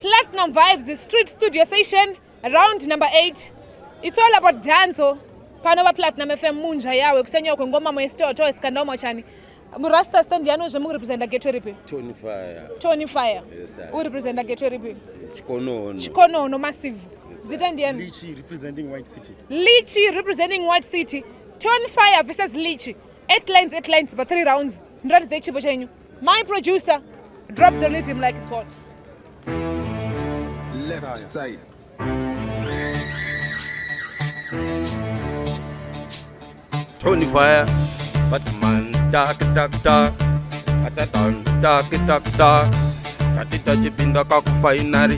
Platinum Vibes Street Studio Session round number 8. It's all about danzo. Pano va Platinum FM munja yawe kusenyewa kwengoma mwesito to iskandao mwachani. Murasta stand yano zve muri representa gateway ripi? Tony Fire. Tony Fire. Yes, sir. Uri representa gateway ripi? Chikonono. Chikonono massive. Yes, Zita ndiani? Lichi representing White City. Lichi representing White City. Tony Fire versus Lichi. 8 lines 8 lines pa 3 rounds. Ndiratidze chipo chenyu. My producer, drop the rhythm like it's hot. Left side. Tony Fire, Batman, tak tak tak, atatan, tak tak tak, tati tachipinda kakufainari.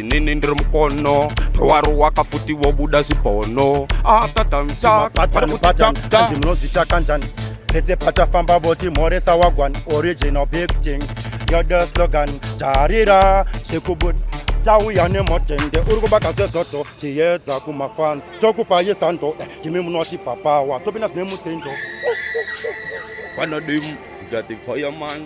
inini ndiri mukono waro wakafuti wobuda zvibono atatamsaatmunozicha kanjani pese patafamba voti mhoresa wagwan original big things yode slogan tarira zvekubuda tauya nemotende uri kubaka zvezvoto tiyedza kumafanzi tokupa yesando eh, ndimi munoti papawa topinda zvine musinjo vanodimu tikati fireman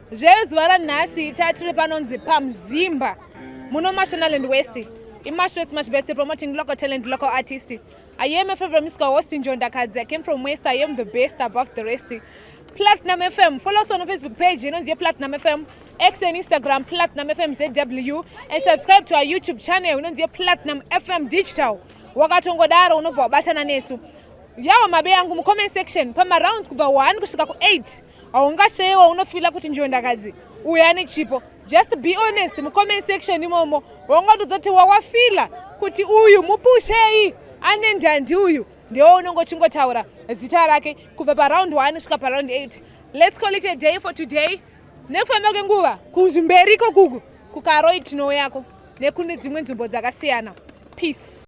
zveyo zuva ranhasi tatiri panonzi pamzimba muno mashonaland west imashos much best promoting local talent local artist i am a favorite musical host in jondakadzi i came from west i am the best above the rest platinum fm follow us on facebook page inonzi yeplatinum fm x and instagram platinum fm zw and subscribe to our youtube channel inonzi yeplatinum fm digital wakatongodaro unobva wabatana nesu yawo mabe yangu mucomment section pamarounds kubva 1 kusvika ku8 haungasheyewa unofila kuti njiondakadzi uyo ane chipo just be honest mucomment section imomo wongotozoti wawafila kuti uyu mupushei ane ndandi uyu ndewo unenge uchingotaura zita rake kubva paround 1 kusvika paround 8 let's call it a day for today nekufamba kwenguva kuzvimberiko kuku kukaroi tinouyako nekune dzimwe nzvimbo dzakasiyana peace